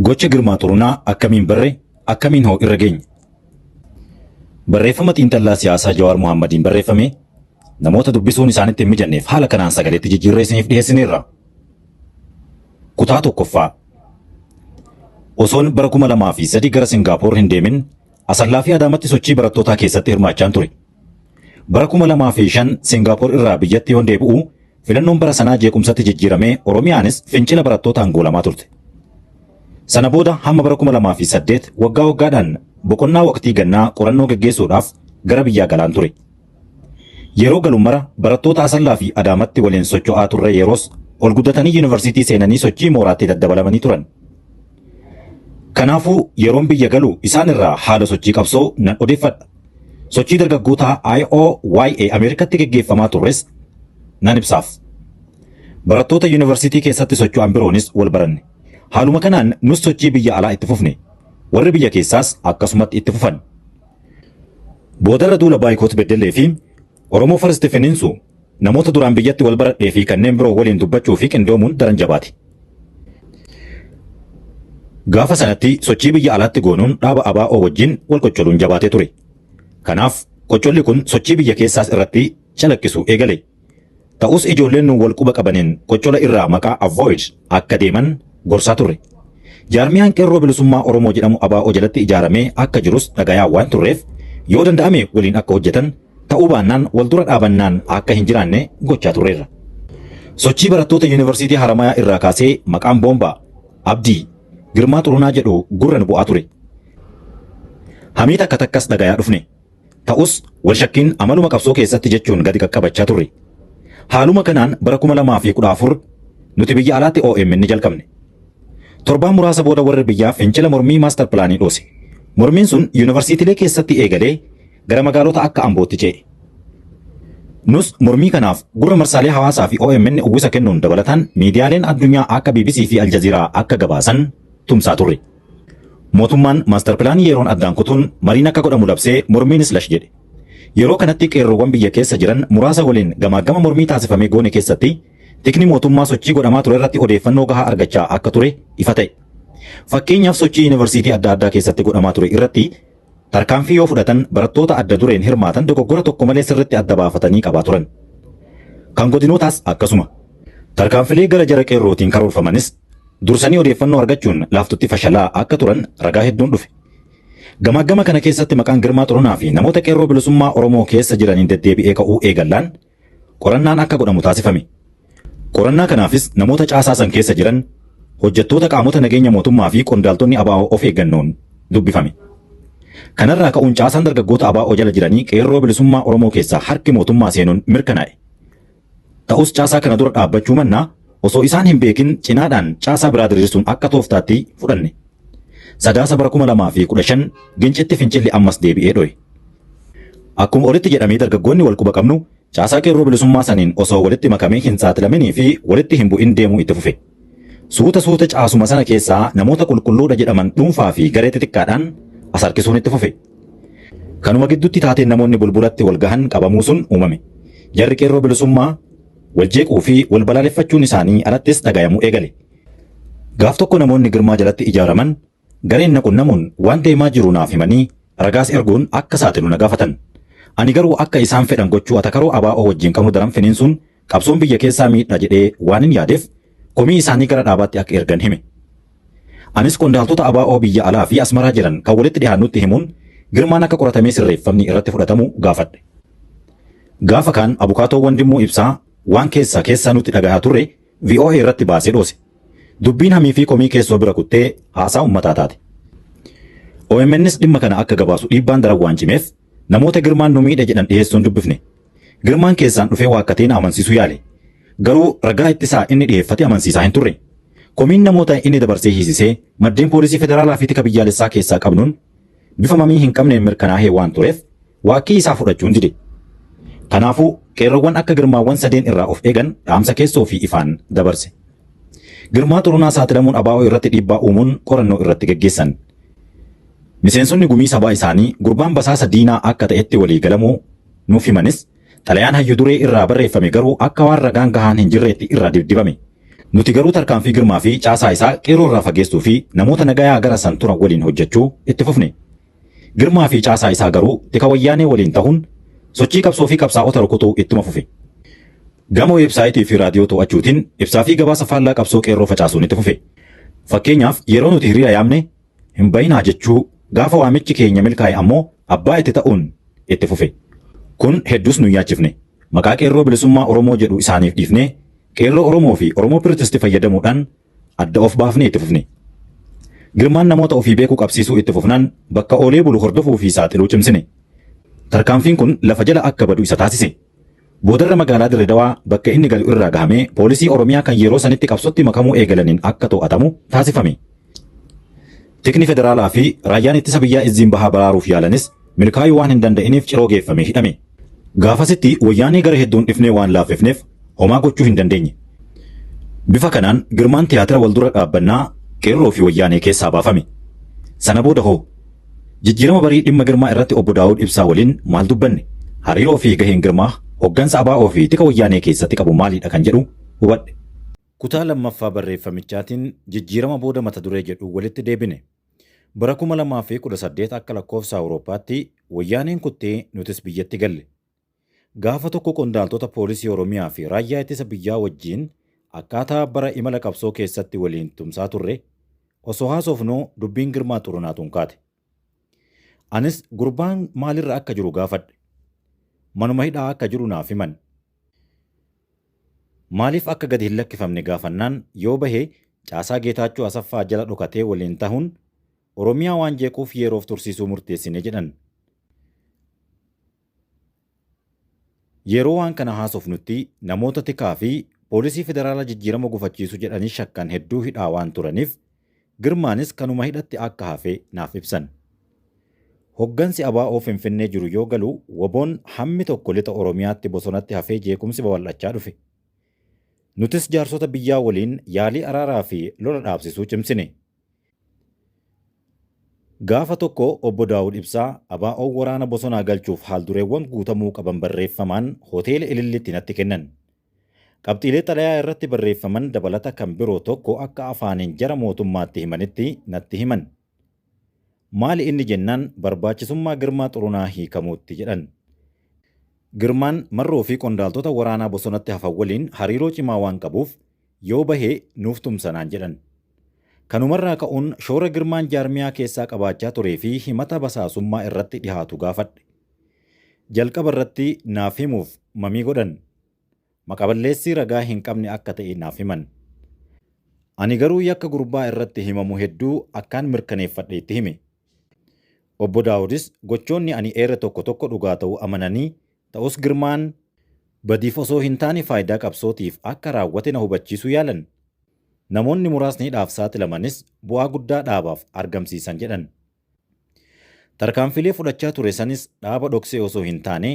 Gocha Girmaa Xurunaa akkamiin barre, akkamiin hoo irra geenye? Barreeffama xiinxallaa siyaasaa Jawaar Mohaammadiin barreeffame namoota dubbisuun isaanitti hin mijanneef haala kanaan sagaleetti jijjiirree isiniif dhiyeessineerra. Kutaa tokkoffaa. Osoon bara kuma lamaa fi sadii gara Singaapoor hin deemin Asallaa fi Adaamatti sochii barattootaa keessatti hirmaachaan ture. Bara 2005 Singaapoor irraa biyyatti yoon deebi'u, filannoon bara sanaa jeequmsatti jijjiiramee Oromiyaanis fincila barattootaan goolamaa turte. Sana booda hamma bara 2008 waggaa waggaadhaan boqonnaa waqtii gannaa qorannoo geggeessuudhaaf gara biyyaa galaan ture. Yeroo galu mara barattoota Asallaa fi Adaamatti waliin socho'aa turre yeroos ol guddatanii yuunivarsiitii seenanii sochii mooraatti daddabalamanii turan. Kanaafuu yeroon biyya galu isaan irraa haala sochii qabsoo nan odeeffadha. Sochii dargaggootaa IOYA Ameerikatti geggeeffamaa turres nan ibsaaf. Barattoota yuunivarsiitii keessatti socho'an biroonis wal baranne. Haaluma kanaan nus sochii biyya alaa itti fufne. Warri biyya keessaas akkasumatti itti fufan. Boodarra duula Baayikoot Beddellee fi Oromo First finiinsu namoota duraan biyyatti wal baradhee fi kanneen biroo waliin dubbachuu fi qindoomuun daran jabaate. Gaafa sanatti sochii biyya alaatti goonuun dhaaba ABO wajjin wal qoccoluun jabaatee ture. Kanaaf qoccolli kun sochii biyya keessaas irratti calaqqisuu eegale. Ta'us ijoolleen nu wal quba qabaniin qoccola irraa maqaa avoid akka deeman gorsaa turre. Jaarmiyaan Qeerroo Bilisummaa Oromoo jedhamu ABO jalatti ijaaramee akka jirus dhagayaa waan turreef yoo danda'ame waliin akka hojjetan ta'uu baannaan wal dura dhaabannaan akka hin jiraanne gochaa turreerra. Sochii barattoota Yuunivarsiitii Haramayaa irraa kaasee maqaan Boombaa, Abdii, Girmaa Xurunaa jedhu gurra nu bu'aa ture. Hamii takka takkas dhagayaa dhufne. Ta'us, walshakkiin amaluma qabsoo keessatti jechuun gadi qaqqabachaa turre. Haaluma kanaan bara 2014 nuti biyya alaatti omn ni jalqabne. Torbaan muraasa booda warri biyyaa fincila mormii maastar pilaanii dhoose. Mormiin sun yuunivarsiitilee keessatti eegalee gara magaalota akka Ambootti ce'e. Nus mormii kanaaf gurra marsaalee hawaasaa fi omn uwwisa kennuun dabalataan miidiyaaleen addunyaa akka BBC fi Aljaziiraa akka gabaasan tumsaa turre. Mootummaan Maastar Pilaanii yeroon addaan kutuun mariin akka godhamu labsee mormiinis lash jedhe. Yeroo kanatti qeerroowwan biyya keessa jiran muraasa waliin gamaaggama mormii taasifame goone keessatti tikni mootummaa sochii godhamaa turerratti odeeffannoo gahaa argachaa akka ture ifa ta'e. Fakkeenyaaf sochii Yuunivarsiitii adda addaa keessatti godhamaa ture irratti Tarkaanfii yoo fudhatan barattoota adda dureen hirmaatan dogoggora tokko malee sirritti adda baafatanii qabaa turan. Kan godinootaas akkasuma. Tarkaanfilee gara jara qeerrootiin karoorfamanis dursanii odeeffannoo argachuun laaftutti fashalaa akka turan ragaa hedduun dhufe. Gamaaggama kana keessatti maqaan Girmaa Xurunaa fi namoota qeerroo bilisummaa Oromoo keessa jiraniin deddeebi'ee ka'uu eegallaan qorannaan akka godhamu taasifame. Qorannaa kanaafis namoota caasaa san keessa jiran, hojjettoota qaamota nageenya mootummaa fi qondaaltonni abo of eeggannoon dubbifame. Kanarraa ka'uun caasaan dargaggoota abo jala jiranii Qeerroo Bilisummaa Oromoo keessaa harki mootummaa seenuun mirkanaa'e. Ta'us caasaa kana dura dhaabbachuu mannaa osoo isaan hin beekin cinaadhaan caasaa biraa diriirsuun akka tooftaatti fudhanne. Sadaasa bara 2015 Gincitti fincilli ammas deebi'ee dho'e. Akkuma olitti jedhamee dargaggoonni wal quba qabnu caasaa Qeerroo Bilisummaa saniin osoo walitti makamee hin saaxilaminii fi walitti hin bu'in deemuu itti fufe. Suuta suuta caasuma sana keessaa namoota qulqulluu dha jedhaman dhuunfaa fi garee xixiqqaadhaan as harkisuun itti fufe. Kanuma gidduutti taateen namoonni Bulbulatti wal gahan qabamuu sun uumame. Jarri Qeerroo Bilisummaa wal jeequu fi wal balaaleffachuun isaanii alattis dhagayamuu eegale. Gaaf tokko namoonni Girmaa jalatti ijaaraman Gareen na qunnamuun waan deemaa jiru naaf himanii ragaas erguun akka saaxilu na gaafatan. Ani garuu akka isaan fedhan gochuu atakaroo abo wajjin qabnu daran finiinsuun qabsoon biyya keessaa miidha jedhee waanin yaadeef komii isaanii gara dhaabaatti akka ergan hime. Anis qondaaltota abo biyya alaa fi Asmaraa jiran kan walitti dhihaannutti himuun Girmaan akka qoratamee sirreeffamni irratti fudhatamu gaafadhe. Gaafa kaan Abukaatoo Wandimmuu Ibsaa waan keessaa keessaa nutti dhagahaa turre voa irratti baase dhoose. Dubbiin hamii fi komii keessoo bira kuttee haasaa ummataa taate. OMNs dhimma kana akka gabaasu dhiibbaan daran waan cimeef namoota Girmaan nu miidhe jedhan dhiheessuun dubbifne. Girmaan keessaan dhufee waakkatee na amansiisuu yaale. Garuu ragaa ittisaa inni dhiheeffate amansiisaa hin turre. Komiin namoota inni dabarsee hiisisee maddeen poolisii federaalaa fi tika biyyaalessaa keessaa qabnuun bifa mamii hin qabneen mirkanaahee waan tureef waakkii isaa fudhachuun dide. Kanaafuu qeerroowwan akka Girmaawwan sadeen irraa of eegan dhaamsa keessoo fi ifaan dabarse. Girmaa Xurunaa saaxilamuun abaa'oo irratti dhiibbaa uumuun qorannoo irratti geggeessan. Miseensonni gumii sabaa isaanii gurbaan basaasa diinaa akka ta'etti walii galamuu nuuf himanis Xalayaan hayyu duree irraa barreeffame garuu akka waan ragaan gahaan hin jirreetti irraa dibdibame. Nuti garuu tarkaanfii Girmaa fi caasaa isaa qeerroo irraa fageessuu fi namoota nagayaa gara san turan waliin hojjechuu itti fufne. Girmaa fi caasaa isaa garuu tika wayyaanee waliin tahuun sochii qabsoo fi qabsaa'ota rukutuu ittuma fufe. Gama weebsaayitii fi raadiyoo to'achuutiin ibsaa fi gabaasa faallaa qabsoo qeerroo facaasuun itti fufe. Fakkeenyaaf yeroo nuti hiriira yaamne Hin ba'inaa jechuu gaafa waamichi keenya milkaa'e ammoo abbaa itti ta'uun itti fufe. Kun hedduus nun yaachifne. Maqaa Qeerroo Bilisummaa Oromoo jedhu isaaniif dhiifnee Qeerroo Oromoo fi Oromoo Pirtisti fayyadamuudhaan adda of baafnee itti fufne. Girmaan namoota ofii beekuu qabsiisuu itti fufnaan bakka oolee bulu hordofuu fi saaxiluu cimsine. Tarkaanfiin kun lafa jala akka badu isa taasise. Boodarra magaalaa Dirre Dawaa bakka inni galu irraa gahamee poolisii Oromiyaa kan yeroo sanitti qabsotti makamuu eegalaniin akka too'atamu taasifame. Tikni federaalaa fi raayyaan ittisa biyyaa Izziin Bahaa baraaruuf yaalanis milkaayuu waan hin danda'iniif Ciroo geeffamee hidhame. Gaafasitti wayyaanee gara hedduun dhifnee waan laaffifneef homaa gochuu hin dandeenye. Bifa kanaan Girmaan tiyaatira wal dura dhaabbannaa Qeerroo fi wayyaanee keessaa baafame. Sana booda hoo? Jijjiirama barii dhimma Girmaa irratti Obbo Daawud Ibsaa waliin maal dubbanne? Hariiroo fi gaheen Girmaa hoggansa ABO fi tika Wayyaanee keessatti qabu maalidha kan jedhu hubadhe. Kutaa lammaffaa barreeffamichaatiin Jijjiirama booda mata duree jedhuun walitti deebine. Bara 2018 akka lakkoofsa Awurooppaatti Wayyaaneen kuttee nutis biyyatti galle. Gaafa tokko qondaaltota Poolisii Oromiyaa fi Raayyaa Ittisa Biyyaa wajjiin akkaataa bara imala qabsoo keessatti waliin tumsaa turre osoo haasofnuu dubbiin Girmaa Xurunaa tun kaate. Anis gurbaan maalirra akka jiru gaafadhe. Manuma hidhaa akka jiru naaf himan. Maaliif akka gadi hin lakkifamne gaafannaan yoo bahe caasaa Geetaachoo Asaffaa jala dhokatee waliin tahuun Oromiyaa waan jeequuf yeeroof tursiisuu murteessine jedhan. Yeroo waan kana haasofnutti namoota tikaa fi poolisii federaalaa jijjiirama gufachiisu jedhanii shakkan hedduu hidhaa waan turaniif Girmaanis kanuma hidhatti akka hafe naaf ibsan. Hoggansi abo Finfinnee jiru yoo galu wbon hammi tokko lixa Oromiyaatti bosonatti hafee jeequmsi babal'achaa dhufe. Nutis jaarsota biyyaa waliin yaalii araaraa fi lola dhaabsisuu cimsine. Gaafa tokko Obbo Daawud Ibsaa ABOn waraana bosonaa galchuuf haaldureewwan guutamuu qaban barreeffamaan Hoteela Ililliitti natti kennan. Qabxiilee xalayaa irratti barreeffaman dabalata kan biroo tokko akka afaaniin jara mootummaatti himanitti natti himan. Maali inni jennaan barbaachisummaa Girmaa Xurunaa hiikamuutti jedhan. Girmaan Marroo fi qondaaltota waraanaa bosonatti hafan waliin hariiroo cimaa waan qabuuf Yoo bahe nuuf tumsa naan jedhan. Kanumarraa ka'uun shoora Girmaan jaarmiyaa keessaa qabaachaa turee fi himata basaasummaa irratti dhihaatu gaafadhe. Jalqaba irratti naaf himuuf mamii godhan. Maqaballeessi ragaa hin qabne akka ta'e naaf himan. Ani garuu yakka gurbaa irratti himamu hedduu akkaan mirkaneeffadhe itti hime. Obbo Daawudis gochoonni ani eere tokko tokko dhugaa ta'uu amananii, ta'us Girmaan badiif osoo hin taane faayidaa qabsootiif akka raawwate na hubachiisuu yaalan. Namoonni muraasni hidhaaf saaxilamanis bu'aa guddaa dhaabaaf argamsiisan jedhan. Tarkaanfiilee fudhachaa ture sanis dhaaba dhoksee osoo hin taane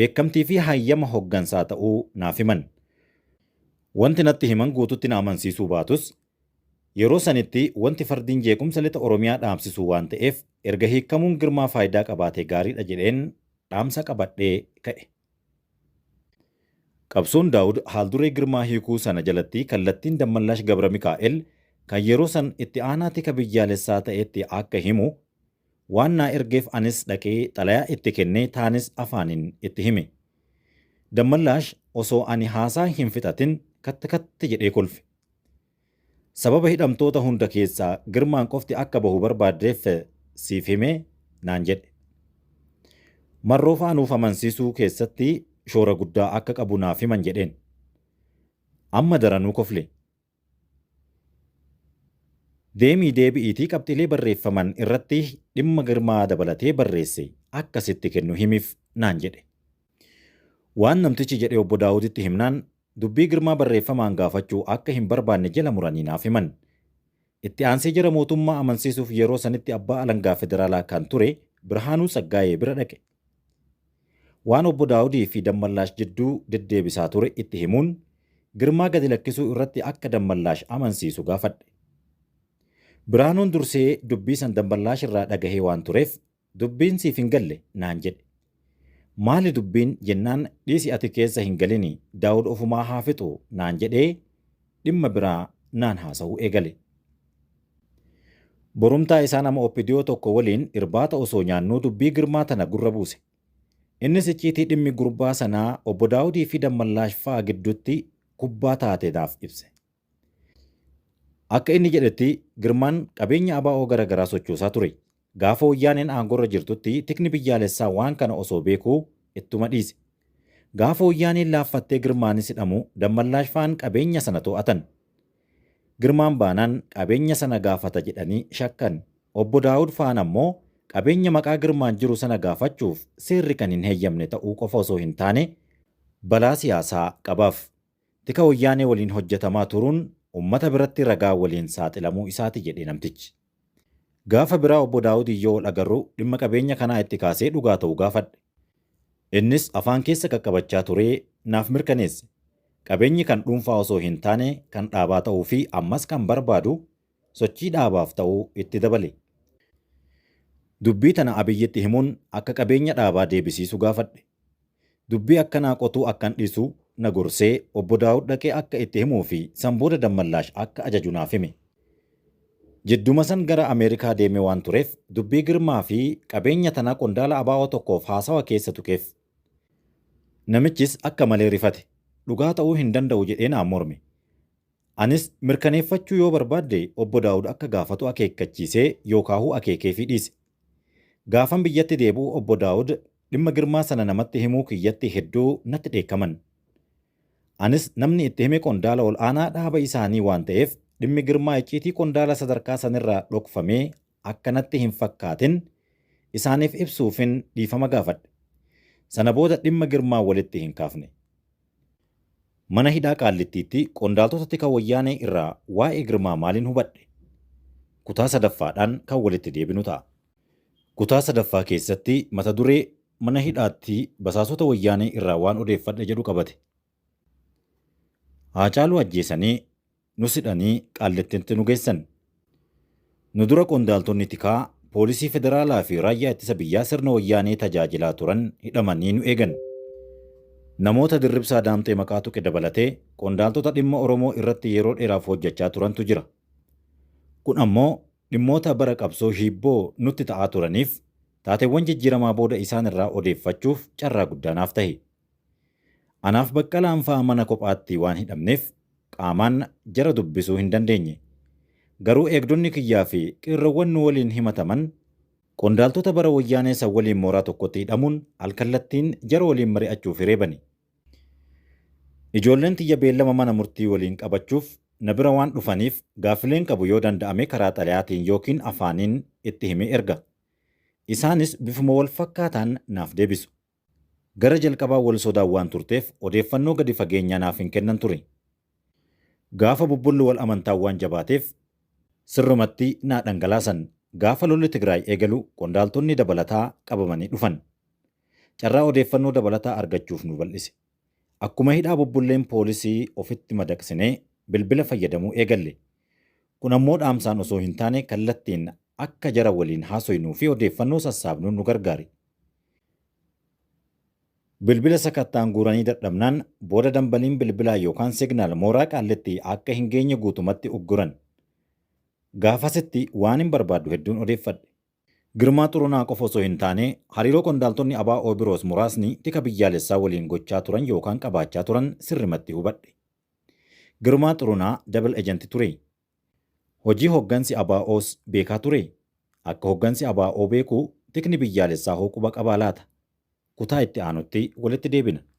beekamtii fi hayyama hoggansaa ta'uu naaf himan. Wanti natti himan guutuutti na amansiisuu baatus Yeroo sanitti wanti fardiin jeequmsa lixa Oromiyaa dhaabsisuu waan ta'eef erga hiikkamuun Girmaa faayidaa qabaatee gaariidha jedheen dhaamsa qabadhee ka'e. Qabsoon Daawud haalduree Girmaa hiikuu sana jalatti kallattiin Dammallaash Gabramikaa'el kan yeroo san itti aanaa tika biyyaalessaa ta'etti akka himu waan naa ergeef anis dhaqee xalayaa itti kennee taanis afaanin itti hime. Dammallaash osoo ani haasaa hin fixatin katt katt jedhee kolfe. Sababa hidhamtoota hunda keessaa Girmaan qofti akka bahu barbaaddeef siif hime naan jedhe. Marroofaa nuuf amansiisuu keessatti shoora guddaa akka qabu naaf himan jedheen. Amma daranuu kofle. Deemii deebi'iitii qabxiilee barreeffaman irratti dhimma Girmaa dabalatee barreesse akka sitti kennu himiif naan jedhe. Waan namtichi jedhe Obbo Daawuditti himnaan Dubbii Girmaa barreeffamaan gaafachuu akka hin barbaanne jala muranii naaf himan. Itti aansee jara mootummaa amansiisuuf yeroo sanitti abbaa alangaa federaalaa kan ture Birhaanuu Tsaggaayee bira dhaqe. Waan Obbo Daawudii fi Dammallaash jidduu deddeebisaa ture itti himuun Girmaa gadi lakkisuu irratti akka Dammallaash amansiisu gaafadhe. Birhaanuun dursee dubbii san Dammallaash irraa dhagahee waan tureef Dubbiin siif hin galle naan jedhe. Maali dubbiin jennaan dhiisi ati keessa hin galini Daawud ofumaa haa fixu naan jedhee dhimma biraa naan haasa'uu eegale. Borumtaa isaa nama Opdo tokko waliin irbaata osoo nyaannuu dubbii Girmaa tana gurra buuse. Innis icciitii dhimmi gurbaa sanaa Obbo Daawudii fi Dammallaash fa'a gidduutti kubbaa taate naaf ibse. Akka inni jedhetti, Girmaan qabeenya abo gara garaa sochoosaa ture. Gaafa Woyyaaneen aangoorra jirtutti tikni biyyaalessaa waan kana osoo beekuu ittuma dhiise. Gaafa Woyyaaneen laaffattee Girmaanis hidhamu Dammallaash faan qabeenya sana to'atan. Girmaan baanaan qabeenya sana gaafata jedhanii shakkan. Obbo Daawud faan ammoo qabeenya maqaa Girmaan jiru sana gaafachuuf seerri kan hin heyyamne ta'uu qofa osoo hin taane balaa siyaasaa qabaaf. Tika Woyyaanee waliin hojjetamaa turuun ummata biratti ragaa waliin saaxilamuu isaati jedhe namtichi. Gaafa biraa Obbo Daawudiin yoo wal agarru dhimma qabeenya kanaa itti kaasee dhugaa ta'u gaafadhe. Innis afaan keessa qaqqabachaa turee naaf mirkaneesse. Qabeenyi kan dhuunfaa osoo hin taane kan dhaabaa ta'uu fi ammas kan barbaadu sochii dhaabaaf ta'u itti dabale. Dubbii tana Abiyyitti himuun akka qabeenya dhaabaa deebisiisu gaafadhe. Dubbii akkanaa qotuu akkan dhiisu na gorsee Obbo Daawud dhaqee akka itti himuu fi san booda Dammallaash akka ajaju naaf hime. Jidduma san gara Ameerikaa deemee waan tureef dubbii Girmaa fi qabeenya tana qondaala abo tokkoof haasawa keessa tuqeef. Namichis akka malee rifate. Dhugaa ta'uu hin danda'u jedhee naan morme. Anis mirkaneeffachuu yoo barbaadde Obbo Daawud akka gaafatu akeekkachiisee yookaahuu akeekeefii dhiise. Gaafan biyyatti deebi'u Obbo Daawud dhimma Girmaa sana namatti himuu kiyyatti hedduu natti dheekkaman. Anis namni itti hime qondaala ol aanaa dhaaba isaanii waan ta'eef dhimmi Girmaa icciitii qondaala sadarkaa sanirraa dhokfamee akka natti hin fakkaatin isaaniif ibsuufin dhiifama gaafadhe. Sana booda dhimma Girmaa walitti hin kaafne. Mana hidhaa Qaallittiitti qondaaltota tika Wayyaanee irraa waa'ee Girmaa maalin hubadhe? Kutaa sadaffaadhaan kan walitti deebinu ta'a. Kutaa sadaffaa keessatti mata duree Mana hidhaatti basaasota Wayyaanee irraa waan odeeffadhe jedhu qabate. Haacaaluu ajjeesanii Nus hidhanii Qaallittitti nu geessan. Nu dura qondaaltonni tikaa, poolisii federaalaa fi raayyaa ittisa biyyaa sirna wayyaanee tajaajilaa turan hidhamanii nu eegan. Namoota Dirribsaa Daamxee maqaa tuqe dabalatee qondaaltota dhimma Oromoo irratti yeroo dheeraaf hojjachaa turantu jira. Kun ammoo dhimmoota bara qabsoo hiibboo nutti ta'aa turaniif taateewwan jijjiiramaa booda isaan irraa odeeffachuuf carraa guddaa naaf tahe. Anaaf Baqqalaan faa mana kophaatti waan hidhamneef qaamaan jara dubbisuu hin dandeenye. Garuu eegdonni kiyyaa fi qeerroowwan nu waliin himataman qondaaltota bara Wayyaanee san waliin mooraa tokkotti hidhamuun alkallattiin jara waliin mari'achuuf hiree bane. Ijoolleen tiyya beellama mana murtii waliin qabachuuf na bira waan dhufaniif gaaffileen qabu yoo danda'ame karaa xalayaatiin ykn afaaniin itti himee erga. Isaanis bifuma wal fakkaataan naaf deebisu. Gara jalqabaa wal sodaan waan turteef odeeffannoo gadi fageenyaa naaf hin kennan ture. Gaafa bubbulli wal amantaa waan jabaateef sirrumatti naa dhangalaasan. Gaafa lolli Tigraay eegalu qondaaltonni dabalataa qabamanii dhufan. Carraa odeeffannoo dabalataa argachuuf nu bal'ise. Akkuma hidhaa bubbulleen poolisii ofitti madaqsinee bilbila fayyadamuu eegalle. Kun ammoo dhaamsaan osoo hin taane kallattiin akka jara waliin haasoynuufi odeeffannoo sassaabnu nu gargaare. Bilbila sakatta'an guuranii dadhabnaan booda dambaliin bilbilaa yookaan signal mooraa Qaallitti akka hin geenye guutumatti ugguran. Gaafasitti waanin barbaaddu hedduun odeeffadhe. Girmaa Xurunaa qofa osoo hin taane hariiroo qondaaltonni ABO biroos muraasni tika biyyaalessaa waliin gochaa turan yookaan qabaachaa turan sirrimatti hubadhe. Girmaa Xurunaa double agent ture. Hojii hoggansi ABOs beekaa turee? Akka hoggansi ABO beeku tikni biyyaalessaahoo quba qabaa laata? Kutaa itti aanutti walitti deebina.